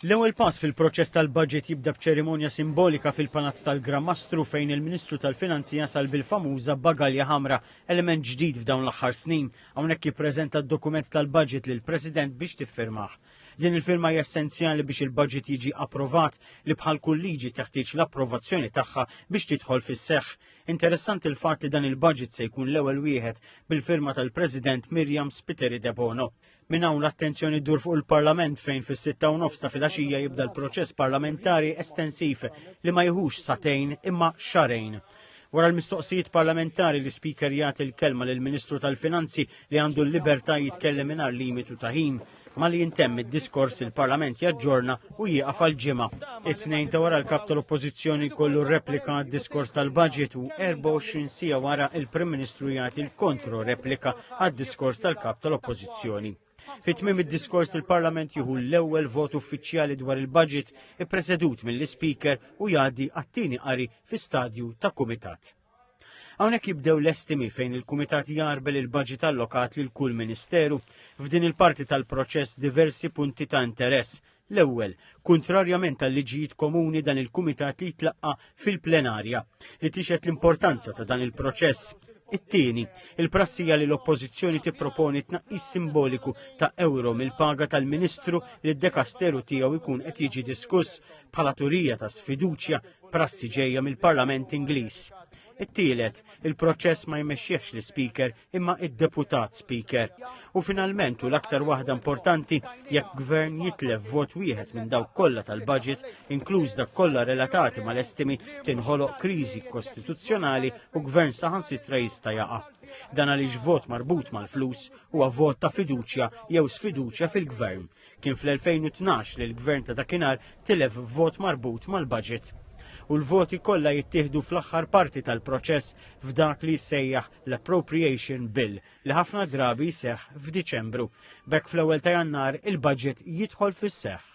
L-ewwel pass fil-proċess tal-budget jibda b'ċerimonja simbolika fil-Palazz tal-Gran Mastru fejn il-Ministru tal-Finanzi jasal bil-famuża bagalja ħamra, element ġdid f'dawn l-aħħar snin. Hawnhekk jippreżenta d-dokument tal-budget lill-President biex tiffirmah. Din il-firma hija essenzjali biex il-budget jiġi approvat li bħal kull liġi teħtieġ l-approvazzjoni tagħha biex tidħol fis-seħħ. Interessanti l-fatt li dan il-budget se jkun l-ewwel wieħed bil-firma tal-President Miriam Spiteri Debono. Minn hawn l-attenzjoni ddur fuq il-Parlament fejn fis-sitta u nofs ta' filgħaxija jibda l-proċess parlamentari estensiv li ma jħux satejn imma xarejn. Wara l-mistoqsijiet parlamentari li speaker jagħti l-kelma lill ministru tal-Finanzi li għandu l-libertà jitkellem mingħajr limitu ta' ħin. Ma li jintemm id-diskors il-Parlament jaġġorna u jieqaf għall-ġimgħa. It-Tnejn ta' wara l-Kap tal-Oppożizzjoni jkollu replika għad-diskors tal-budget u 24 siegħa wara il-Prim Ministru jagħti l-kontro replika għad-diskors tal-Kap tal-Oppożizzjoni. Fit-tmiem id-diskors il-Parlament jieħu l-ewwel vot uffiċjali dwar il-budget ippresedut mill-Ispeaker u jgħaddi għat-tieni qari fi stadju ta' kumitat. Hawnhekk jibdew l-estimi fejn il-Kumitat jarbel il-baġit allokat lil kull Ministeru. F'din il-parti tal-proċess diversi punti ta' interess. L-ewwel, kuntrarjament għal liġijiet komuni dan il-Kumitat li jitlaqqa fil-plenarja li tixet l-importanza ta' dan il-proċess. It-tieni, il-prassija li l-Oppożizzjoni tipproponi tnaqqis simboliku ta' euro mill-paga tal-Ministru li d-dekasteru tiegħu jkun qed jiġi diskuss bħala turija ta' sfiduċja prassi ġejja mill-Parlament Ingliż. It-tielet, il-proċess ma jmexxiex l-Speaker imma id-Deputat Speaker. U finalment u l-aktar waħda importanti jekk gvern jitlef vot wieħed minn dawk kollha tal-budget, inkluż dak kollha relatati mal-estimi tinħoloq kriżi kostituzzjonali u gvern saħansitra jista' jaqa'. Dan għaliex vot marbut mal-flus huwa vot ta' fiduċja jew sfiduċja fil-gvern. Kien fl-2012 li l-Gvern ta' dakinhar tilef f'vot marbut mal-budget. U l-voti kollha jittieħdu fl-aħħar parti tal-proċess f'dak li jissejjaħ l-Appropriation Bill li ħafna drabi jseħħ f'Diċembru. B'hekk fl-ewwel ta' Jannar il-budget jidħol fis-seħħ.